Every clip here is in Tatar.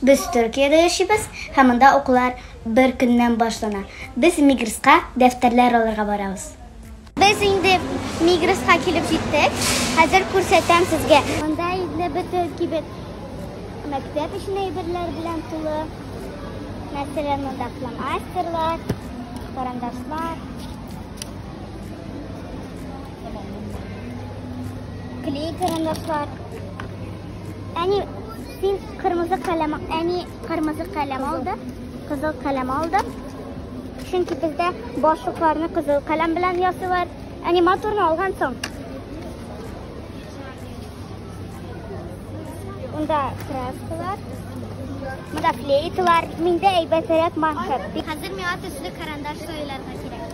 Без Төркиядә яшибез һәм монда укулар бер көннән башлана. Без Мигрска дәфтәрләр алырга барабыз. Без инде Мигрска килеп җиттек. Хәзер күрсәтәм сезгә. Монда инде бөтен кибет мәктәп өчен әйберләр белән тулы. Мәсәлән, монда фломастерлар, карандашлар, клей карандашлар. Әни Син кырмызы каләм, әни кырмызы каләм алды, кызыл каләм алды. Чөнки бездә башлыкларны кызыл каләм белән ясыйлар. Әни моторны алган соң. Унда краскалар, монда флейталар, миндә әйбәтрәк маншет. Хәзер миңа төсле карандаш сайларга кирәк.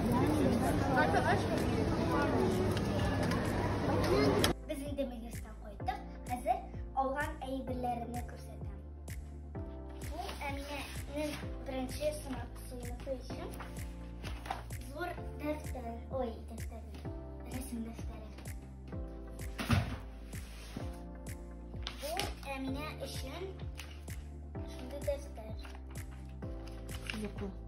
Без инде милестан кайттык. Хәзер алган әйберләрне күрсәтәм. Бу Әминәнең беренче сынак сыйныфы өчен зур дәфтәр, ой, дәфтәр, рәсем дәфтәре. Бу Әминә өчен шундый дәфтәр. Йоклы.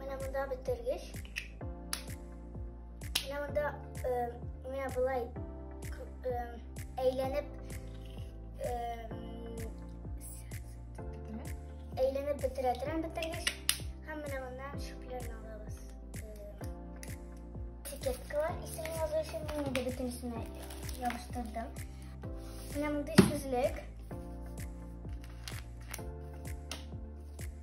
Менә монда бетергеч. Менә монда э, менә болай э, әйләнеп э, әйләнеп бетерә торам бетергеч. Һәм менә моннан шүпләрне алабыз. Этикеткалар исемен язу өчен мин инде бөтенесен ябыштырдым. Менә мондый сүзлек.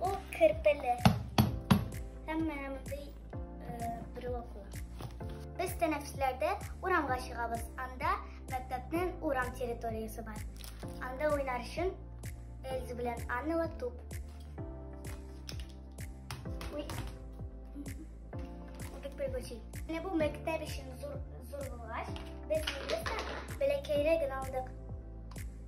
Ул керпеле. Әмма әмдей брелокла. Без тәнәфесләрдә урамга чыгабыз. Анда мәктәпнең урам территориясе бар. Анда уйнар өчен Эльза белән Аннала туп. Уй. Бик пригочи. Менә бу мәктәп өчен зур зур булгач, без инде бәләкәйрәк генә алдык.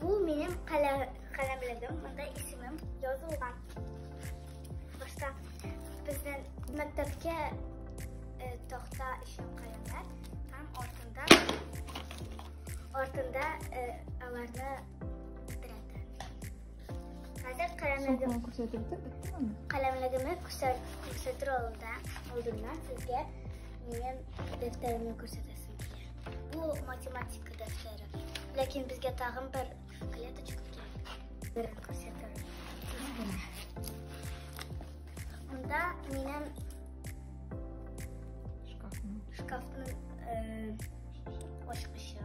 Бу минем каләмлегем, монда исемем язылган. Башта безнең мәктәпкә э, тохта өчен каләмнәр һәм артында артында э, аларны Хәзер каләмлегем каләмлегемне күрсәтер алдында алдыннан сезгә минем дәфтәремне күрсәтәсез. Бу математика дәфтәре. Ләкин безгә тагын бер клеточка кирәк. Берен күрсәтәм. Монда минем шкафның шкафның э, ачкычы.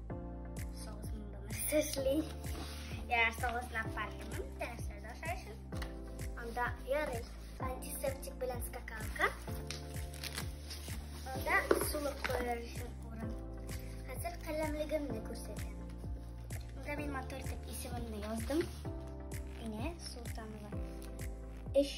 Сәшли. Я осталась на паркинг, дәресне дәшәр өчен. Анда ярый антисептик белән скакалка. Анда сулык куяр өчен урын. Хәзер каләмлегемне күрсәтәм. Анда мин мотор дип исемемне яздым. Менә Султанова. Эш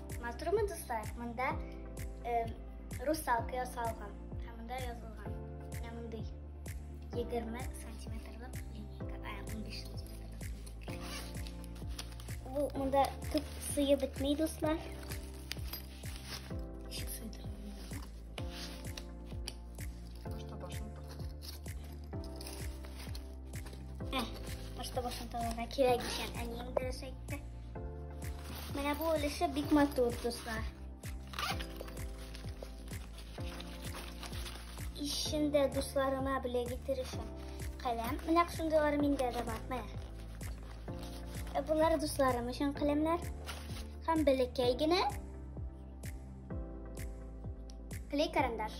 Матурмы, дуслар? Монда э, русалка ясалган. Һәм монда язылган. Менә мондый 20 сантиметрлык линейка. Ә, 15 сантиметрлык линейка. Бу монда күп сыйы бетмей, дуслар. Ишек сыйдырам. Башта башын Ә, башта башын тагырга кирәк икән. Әнием дөрес әйтте. Менә бу өлеше бик матур, дуслар. Ишендә дусларыма белә китерешем. Каләм, менә шундыйлар миндә дә бар, менә. Ә булар дусларым өчен каләмнәр. Һәм беләкәй генә клей карандаш.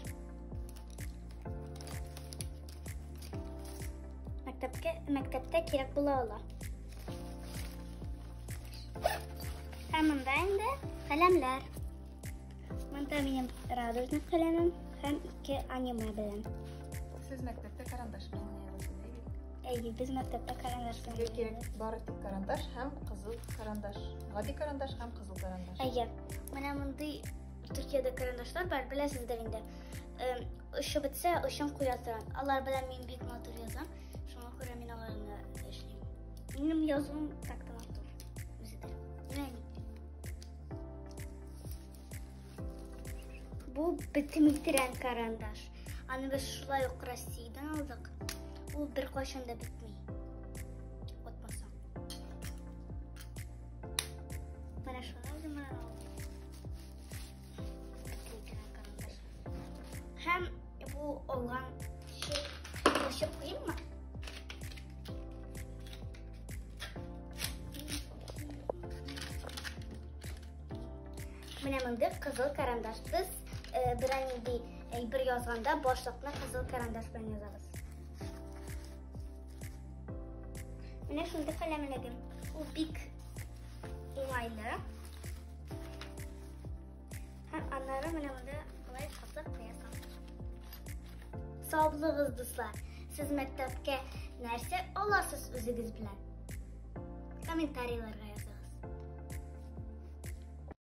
Мәктәпкә мәктәптә кирәк була ала. Ә монда инде каләмләр. Монда минем радужный каләмем һәм ике аниме белән. Сез мәктәптә карандаш белән Әйе, без мәктәптә карандаш белән. Сезгә кирәк бары тик карандаш һәм кызыл карандаш. Гади карандаш һәм кызыл карандаш. Әйе. Менә мондый Төркиядә карандашлар бар, беләсездер инде. Эм, Очы бетсә, очын куя торган. Алар белән мин бик матур язам. Шуңа күрә мин аларны эшлим. Минем язуым так та матур. Үзе дә. Менә. Бу битем итерән карандаш. Аны без шулай ук Россиядән алдык. Ул бер кайчан да бетми. Отмаса. Менә шулай гына. Һәм бу алган şey кашык куйыйм ма? Менә мондый кызыл карандаш без э, берәр нинди әйбер язганда башлыкны кызыл карандаш белән язабыз. Менә шундый каләм эләгем. Ул бик уңайлы. Һәм аннары менә монда былай кысып куясың. Саулыгыз, дуслар! Сез мәктәпкә нәрсә аласыз үзегез белән? Комментарийларга языгыз.